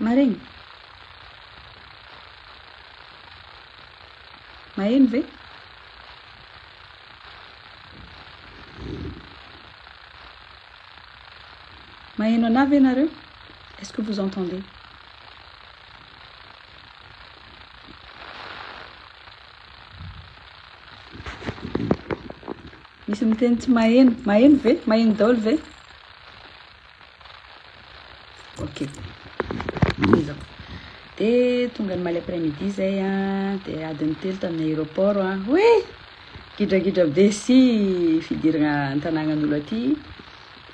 Marenina. Maheno ve? Maheno anah ve nareo? Est-ce que vous entendez? Misy miteny tsy maheno. Maheno ve? Maheno daholo ve? Ok. Ezako. Dia tonga ny maly après midi izay an, dia adiny telo tamin'ny aéroport an. Hoe gidragidra be sy fidirana an-tanànan'olo aty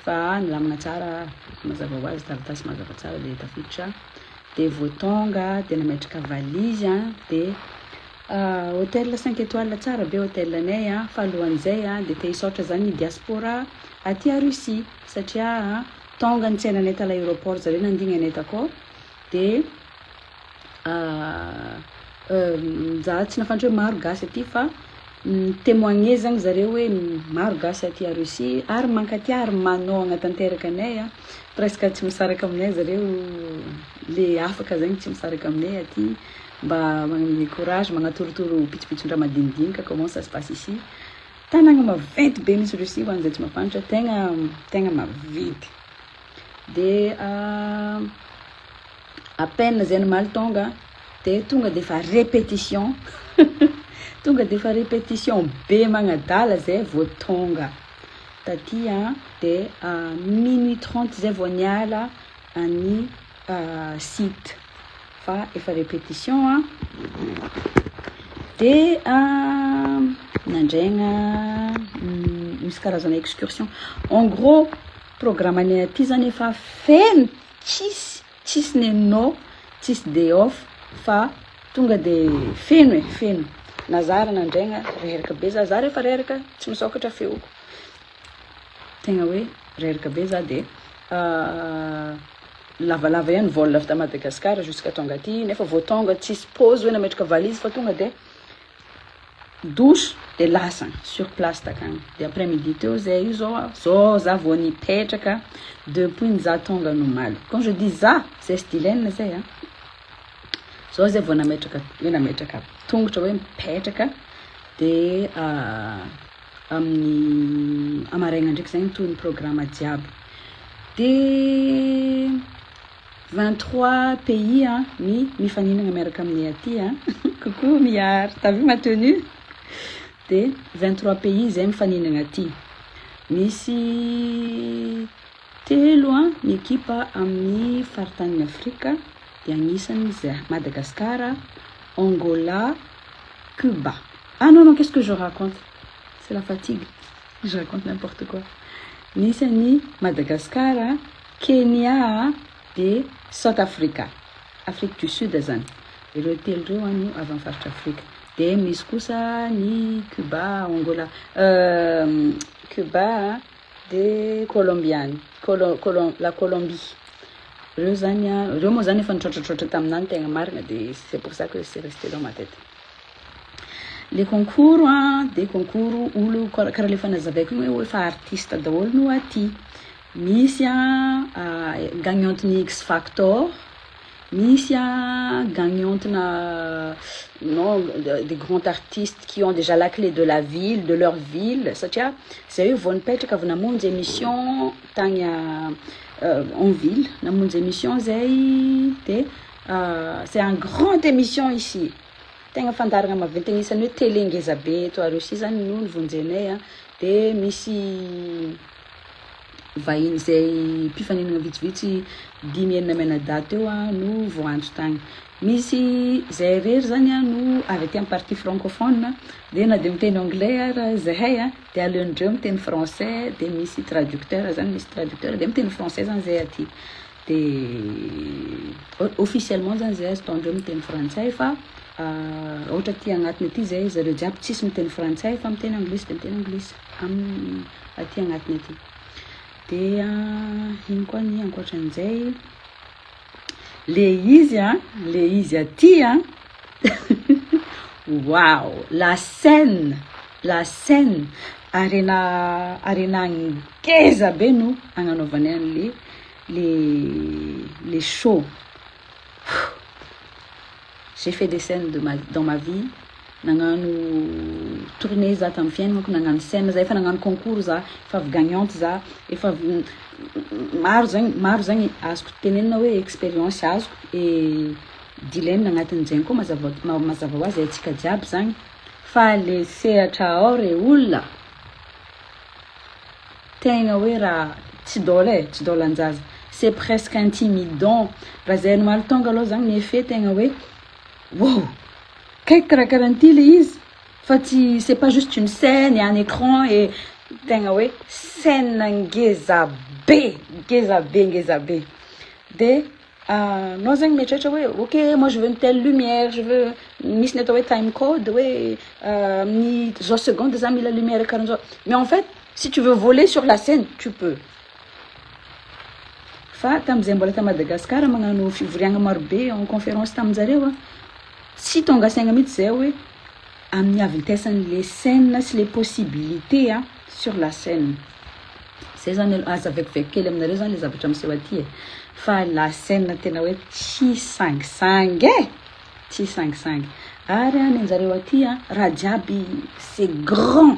fa nilamina tsara mazava ho azy, taratasy mazava tsara dia tafiditra. Dia vao tonga dia nametraka valise an, dia ah, hôtel cinq étoiles tsara be hôtelanay an, fa alohan'izay an dia te hisaotra zany ny diaspora aty à Russie. satria tonga nitsena anay tala aeroport zareo nandigny anay takao de za tsy nafantatra hoe maro gasy aty fa ni temoigner zany zareo hoe maro gasy aty a Russie ary mankatia ary manao hagnatanteraka anay a presque tsy misaraka aminay zareo le afaka zegny tsy misaraka aminay aty mba magnome courage magnatorotoro pitsopitson-draha madinidinika comment ça se passe ici. Tanagna maventy be misy Russie ho an'izay tsy mafantra tegna tegna maventy de à peine zay nomaly tonga de tonga de efa repetition tonga de efa repetition be magnadala zay vao tonga taty a de minuit trente zay vao niala an'i site fa efa répétition a dia nandraigna misy karazana excursion en gros programme anay aty zany efa feno tsisy tsisy nenò tsisy day off fa tonga de feno e feno na zah ary nandraigna reraka be zah zah rehefa reraka tsy misokatra feoko Tegna hoe reraka be za de lavalava ihany vol avy ta Madagascar jusqu'à tonga aty nefa vao tonga tsisy pause hoe nametraka valise fa tonga de douche de lasa sur place takagny de après midi teo zay io zao a zao za vao nipetraka depuis ny za tonga ny omaly quand je dis za zay sy Dylaine zay a zao zay vao nametraka hoe nametraka tongotra hoe mipetraka de Amin'ny hamaraina ndraiky zay mitohy ny programme jiaby. De vingt trois pays an ny mifaninana miaraka aminay aty an. Coucou Mihary, t'as vu ma tenue? De vingt trois pays zay mifaninana aty. Misy. Telo ny ekipa amin'ny faritanin'i Afrika dia anisan'izy Madagascar, Angola, Cuba. Ah non non qu'est-ce que je raconte? C'est la fatigue, je raconte n'importe quoi. Nisy an'i Madagascar, Kenya dia South Africa, Afrique du Sud zany. Ireo telo ireo an no avy amin'ny faritra Afrika. Dia misy kosa ny Cuba, Angola, euh, Cuba, Dia Kolombiana, Kolo, Kolo, la Colombie. Ireo zany a, ireo moa zany efa nitraotratraotra taminà ny tegna marina dia c'est pour ça que c'est resté dans ma tête. Le concours a dia concours olo kara- karaha le efa nazavaiko igny hoe efa artiste daholo no aty. Misy a, a gagnante-n'ny X-Factor, Misy a gagnante na non des grands artistes qui ont déjà la clé de la ville, de leur ville satria zay hoe vao nipetraka vao namonjy emission tagny a en ville namonjy emission zay de c'est un grand emission ici tegna fandaharagna maventy agnisany hoe télé ngezabe eto à Russie zany no nivonjenay a de misy vahiny izay mpifaninana vitsivitsy dimy enina mianadahy teo no voantso tany. Misy izay irery zany no avy aty amin'ny partie francophone dia na dia miteny anglais ara zahay dia aleondreo miteny français dia misy traducteur zany misy traducteur dia miteny français zany zay aty dia officiellement zany zay azo ataondreo miteny frantsay fa ohatra aty agnatiny aty zay zareo jiaby tsisy miteny frantsay fa miteny anglisy dia miteny anglisy. aminy aty agnatiny aty dia ino koa ny ankoatran'izay le izy a le izy aty a wow la scène la scène arena arena ngeza be no agnanaovany an'le le le show j'ai fait des scènes de ma dans ma vie Nagnano tournée za tamin'ny fiainako, nagnano scène za, efa nagnano concours za, efa avy gagnante za, efa avy maro zegny, maro zegny azoko tenenina hoe expérience azoko et dilaina agnatin'ny zegny koa mazava ma- mazava ho azy haintsika jiaby zagny fa le sehatra ao re olona tegna hoe raha tsy dôla e, tsy dôlan-jaza, c'est presque intimidant, raha zay no mahaltonga aloha zagny ny effet tegna hoe. Wow! Kay karakaran'ity ilay izy fa tsy c'est pas juste une scène et un écran et tegna hoe scène ngeza be, ngeza be, ngeza be. Dia anao zegny mieritreritra hoe ok moi je veux une telle lumière, je veux misy ny atao hoe time code hoe amin'ny zao seconde za mila lumière karahan'izao. Mais en fait, si tu veux voler sur la scène, tu peux. Fa tamin'izay mbola tany Madagascar magnano fivoriagna marobe en conférence taminjareo an, tsy tonga saigna mihitsy zay hoe amin'ny havintesan'ny le scène sy le possibilité an sur la scène. Zay zany aloha aza vakivaky kely aminareo zany le zavatra miseho aty e! Fa la scène tena hoe tsy sangisangy e! Tsy sangisangy! Ary an nenjareo aty an raha jiaby c'est grand!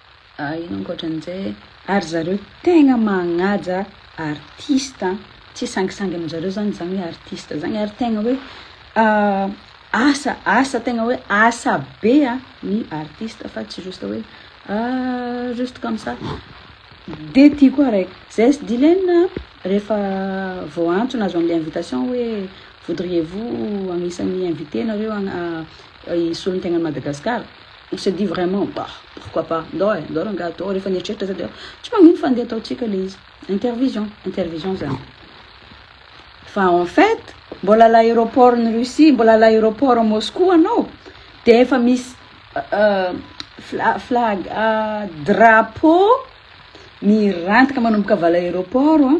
Ah ino ankoatran'izay e? Ary zareo tegna magnaja artiste an! Tsy sangisangy aminjareo zany zany hoe artiste zany ary tegna hoe asa asa tegna hoe asa be an ny artiste fa tsy juste hoe ah juste comme ça! de ty koa araiky zs d'Ilaine an rehefa vao antony azo anle invitation hoe voudriez vous agnisan'ny invite nareo hisolo ny tegna an'i Madagasikara? On se dit vraiment bah pourquoi pas ndao eh ndao rangahy atao rehefa nieritreritra zay dia tsy magnino fa andeha ataontsika le izy intervision intervision zany fa en fait mbola la aéroport ny Russie mbola la aéroport Moscou anao dia efa misy fla flag drapeau mirantika manomboka vala aéroport an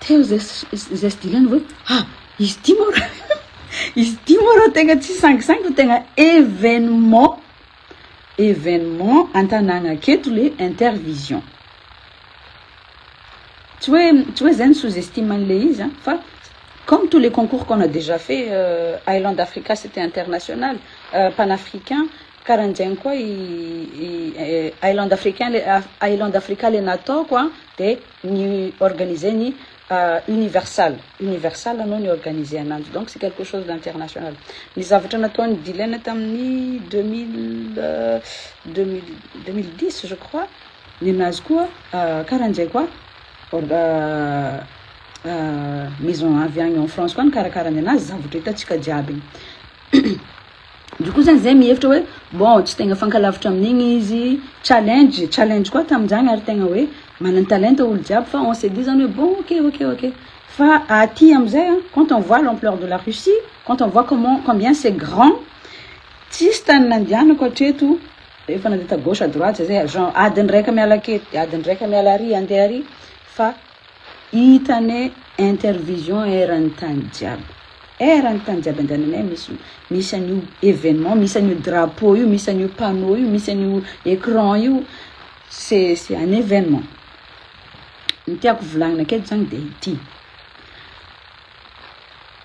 Teo izay izay sy Dylan hoe ha izy ity moa ra izy ity moa ra tegna tsy sangisangy fa tegna événement événement an-tanàgna aketo le intervision tsy hoe tsy hoe zay ny sous-estime an'le izy a fa comme tous les concours qu'on a déjà fait euh, Island Africa c'était international euh, panafricain karan'jaigny koa i, i eh, Island Africain le ah, Island Africa le nataoko a de ny organiser ny universal universal anao ny organiser ananjy donc c'est quelque chose d'international ny zavatra nataon'i Dylan tamin'ny deux mille deux mille deux mille dix je crois ninazy koa karan'izay koa maison avy agny en France koa nikarakara ny anazy zavatra hitantsika jiaby igny. Ndry koa zany zay mihevitra hoe bon tsy tegna fankalavitra amin'igny izy, challenge, challenge koa tamin'izany ary tegna hoe manan-talenta olo jiaby fa on se dit zany hoe bon ok ok ok fa aty amizay an quand on voit l'ampleur de la Russie, quand on voit comment combien c'est grand tsisy tany nandianako hatreto rehefa nandeha ta gauche à droite zay, genre adiny raika miala aketo de adiny raika miala ary ande ary fa. Hita anie intervision eran'ny tany jiaby. Eran'ny tany jiaby andehananay misy misy an'io evenement, misy an'io drapeau io, misy an'io panneau io, misy an'io écran io, c'est c'est un evenement. Ny tiako volagnina aketo zany de ity,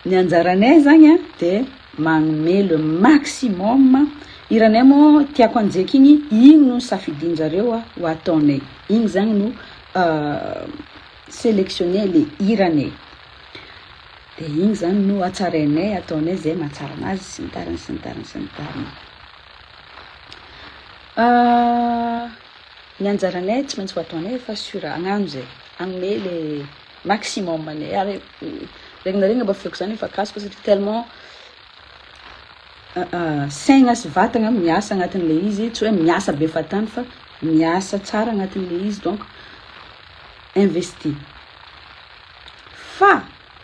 ny anjaranay zany a de magnome le maximum, hiranay moa tiako hanjeky igny, igny no safidianjareo ho ataonay, igny zany no. Selectionner le hirany e! De igny zany no hatsarainay, ataonay zay mahatsara anazy sy ny tariny sy ny tariny sy ny tariny. Ny anjaranay tsy maintsy ho ataonay fa sur hagnano zay, hagnome le maximum anay ary regny na regny aba feoko zany efa kasoka satria tellement Saina sy vatagna miasa agnatin'ilay izy, tsy hoe miasa be fahatany fa miasa tsara agnatin'ilay izy donc investi. Fa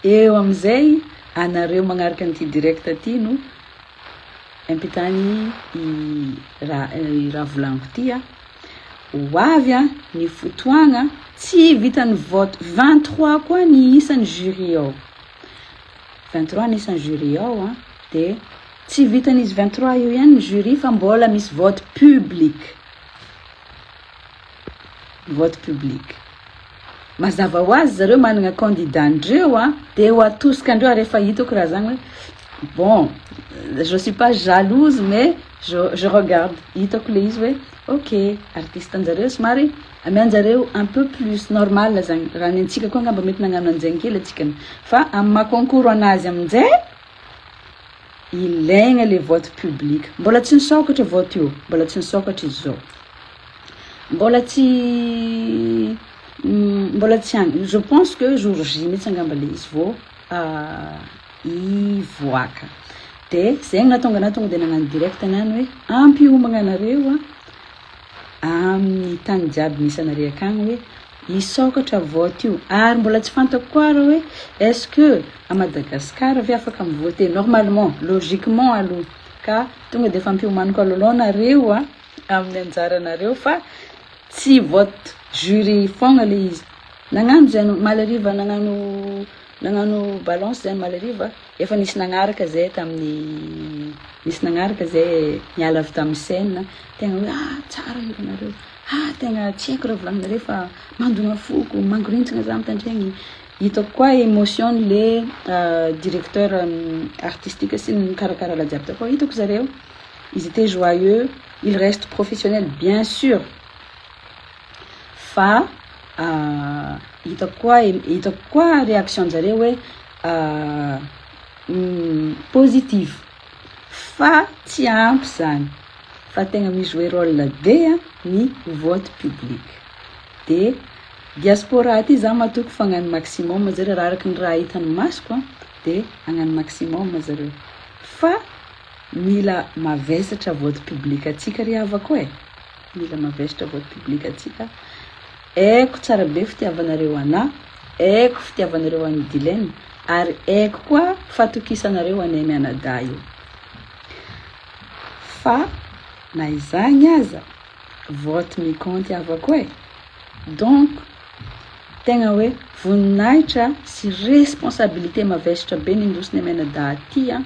eo amin'izay anareo magnaraka an'ity direct ty no ampitany i raha i raha volagniko ty a. Ho avy a ny fotoagna tsy vitan'ny vote, 23 koa ny isan'ny jury ao. Vingt trois anisan ny jury ao an, de tsy vitan izy vingt trois io ihany ny jury fa mbola misy vote public, vote public mazava ho azy zareo managna candidat ndreo an, de ho atosikan dreo ary efa hitako raha zany hoe bon je suis pas jalouse mais. Je je regarde hitako le izy hoe ok artiste anjareo somary amianjareo un peu plus normal zany raha ny antsika koa angamba mety nagnano anzegny kely atsika fa amy maha concours anazy amizay ilaigna le vote public mbola tsy nisokatra vote io mbola tsy nisokatra izy zao mbola tsy mbola tsy any je pense que jour J mitsy angamba le izy vo Ah i voaka. De zegny nahatonga anah tonga de nagnano direct anah ny hoe ampy hiomagna anareo a amin'ny tany jiaby misy anare akagny hoe hisôkatra vote io, ary mbola tsy fantako koa reo hoe est ce que à Madagascar ve afaka mi-vote normalement, logiquement aloha ka tonga de efa ampiomaniko alohaloha nareo a. amin'ny anjaranareo fa tsy vote jury fogna le izy nagnano zay anao omaly hariva nagnano nagnano balance zay omaly hariva efa nisy nagnaraka zay tamin'ny nisy nagnaraka zay niala avy tamin'ny scène tegna hoe ah tsara hiranareo ah tegna tsy haiko raha volagninareo fa mandona foko mangorintsina za mitandregny hitako koa émotion le directeur artistique sy ny mikarakara raha jiaby tao koa hitako zareo Ils étaient joyeux, ils restent professionnels bien sur fa hitako koa hitako koa réaction-njareo hoe positif fa tsy ampy izany fa tegna mi-jouer rôle be ny vote public de diaspora aty za matoky fa hagnano maximum zareo raha araky ny raha hitan'ny masoko de hagnano maximum zareo fa Mila mavesatra vote public antsika ry havako e! Mila mavesatra vote public antsika. Aiko tsara be fitiavanareo anà, aiko fitiavanareo an'i Dilena, ary aiko koa fatokisanareo anay mianadahy io. Fa na izany aza, vote mikaonty havako e! Donc, tegna hoe voninahitra sy responsabilité mavesatra be nindosina mianadahy ty an!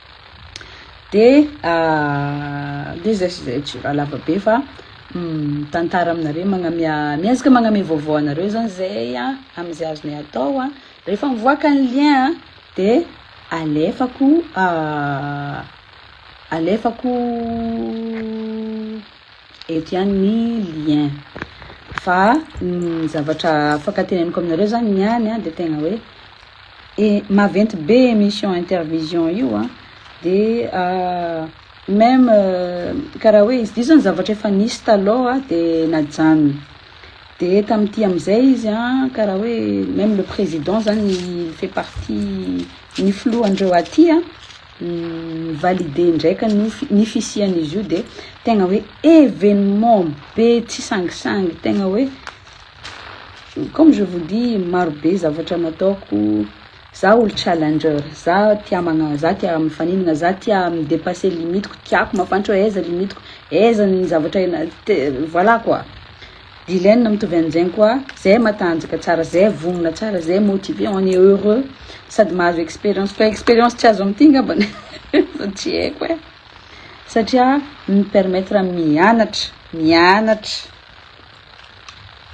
de lezaka izay tsy raha lava be fa mitantara aminareo magnamia miezaka magnamia vaovao anareo zany zay a am'zay azonay atao a, rehefa mivoaka ny lien a de alefako alefako. Eto ihany ny lien. Fa ny zavatra afaka teneniko aminareo zany ny any a de tegna hoe e maventy be émission intervision io a de même karaha hoe izy io zany zavatra efa nisy taloha de najanony de tamty amizay izy a karaha hoe même le président zany fait partie ny filoha ndreo aty a. Ni-valider indray ka ny ho ny fisian'izy io dia tegna hoe événement be tsy sangisangy tegna hoe comme je vous dis maro be zavatra nataoko, za olo challenger, za tia magna- za tia mifaninagna, za tia mi-depasser limitiko, tiako mafantra hoe aiza limitiko, aiza ny zavatra ena- te- voilà quoi. Vilaine mitovy an'izegny koa zay matanjaka tsara zay vogna tsara zay motivé on est heureux sady mahazo expérience fa expérience tsy azo amty ngambany fa tsy haiko e satria mi permettre am mianatra mianatra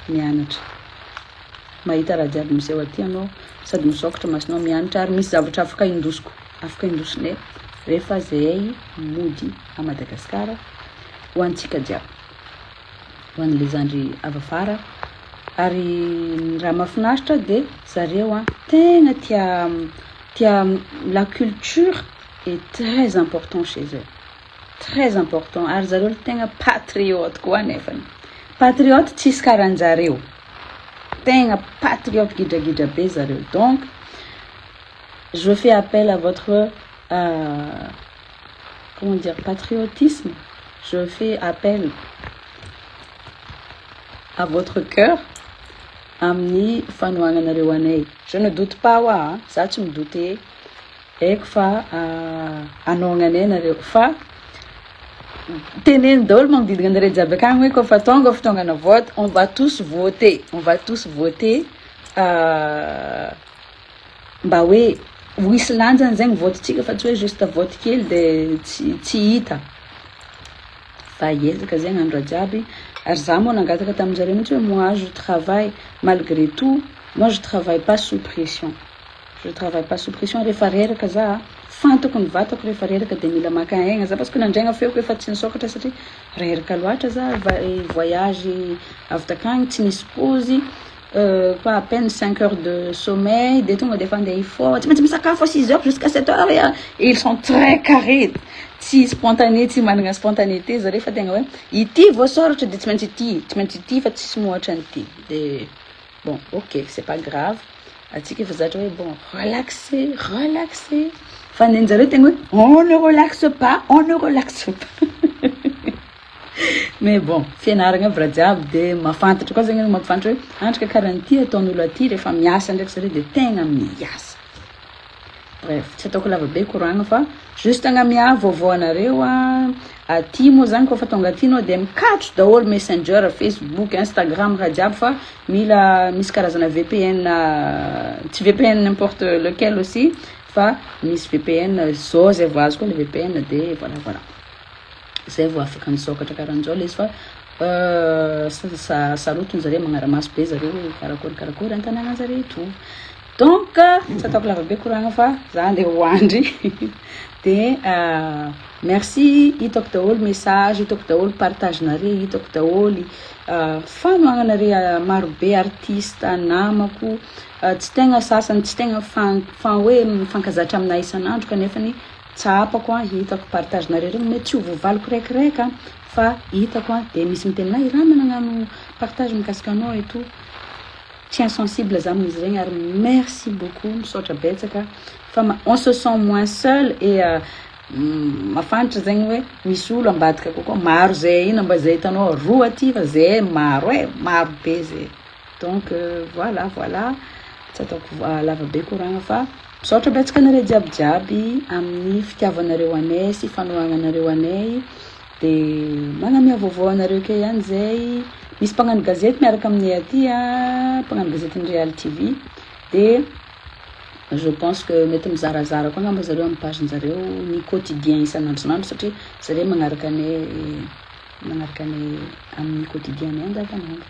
mianatra mahita raha jiaby miseho aty anao sady misôkatra masonao mianatra ary misy zavatra afaka indosiko afaka indosinay refa zay mody a Madagascar ho antsika jiaby ho an'ilay zandry avy afara ary ny raha mahafinaritra dia zareo an tegna tia tia la culture est très important chez eux très important ary zareo le tegna patriote koa nefany patriote tsisy karanjareo tegna patriote gidragidra be zareo donc je fais appel à votre comment dire patriotisme je fais appel à votre coeur amin'ny fanohananareo anay je ne doute pas hoa a za tsy mi doute eko fa hanohagna anay nareo fa teneno daholo magnodidina anareo jiaby akagny hoe kô fa tonga fotoagnana vote on va tous voter on va tous voter. Mba hoe ho hisy lanjany zay ny vote tsika fa tsy hoe juste vote kely de tsy tsy hita fa hiezaka zegny andra jiaby ary za moa nangataka taminjareo mintsy hoe moi je travaille malgré tout moi je travaille pas sous pression je travaille pas sous pression refa reraka za fantako ny vatako refa reraka de mila maka aigna za parce que nandraigna feoko efa tsy nisokatra satria reraka loatra za va- voyage avy takagny tsy nisy pozy fa à peine cinq heures de sommeil dia tonga dia efa andeha hifoha, tsy maintsy misakafo à six heures jusqu'à sept heures et ils sont très carré, tsy spontané, tsy managna spontanéité zareo fa tegna hoe ity voasoratra dia tsy maintsy ity, tsy maintsy ity fa tsisy mihoatra an'ity, de bon ok c'est pas grave, antsika efa zatra hoe bon relaxer, relaxer, fa nenjareo tegna hoe on ne relaxe pas, on ne relaxe pas. Mais bon, fianaragna aby raha jiaby de mahafantatra koa zany anao mampifantatra hoe andry ka karany ty ataon'olo aty rehefa miasa ndraiky zareo de tegna miasa. Bref, tsy ataoko lava be koragna fa juste agnamia vaovao anareo a, aty moa zany kôfa tonga aty anao de mikatso daholo messenger, facebook, instagram raha jiaby fa mila misy karazana VPN tsy VPN n'importe lequel aussi fa misy VPN, zao zay vao azoko le VPN de voilà voilà. Zay vao afaka misokatra karanzao lesy fa sarotiny zareo magnaramaso be zareo hoe karakory karakory an tanàna zareo etoa donc tsy ataoko lavabe koragna fa za andeha ho andry de euh, merci hitako daholo message hitako daholo partage nare hitako daholo euh, fanoagnanare euh, marobe artiste namako tsy tegna sasany tsy tegna fan fan hoe mifankazatra aminay isan'andro kanefany Tsapako an, hitako partage nareo reny mety tsy ho voavaliko rèkirèk an, fa hitako an dia misy miteny na i Rama nagnano partage mikasika anao et tout, tsy insensible za amin'izy regny ary merci beaucoup misaotra betsaka fa on se sent moins seul et mafantra zegny hoe misy olo ambadika kokoa maro ze ino mba ze hitanao roa aty fa ze maro e, maro be ze donc voilà voilà tsy ataoko lava be koragna fa Misaotra betsaka anareo jiaby jiaby amin'ny fitiavanareo anay sy fanoharanareo anay de magnamia vaovao anareo key ihany zay misy mpagnano gazety miaraka aminay aty a mpagnano gazetin'ny Real TV de je pense que mety mizarazara koa angamba zareo amin'ny page njareo ny quotidien isan'andronandro satria zareo magnaraka anay magnaraka anay amin'ny quotidien anay andavanandro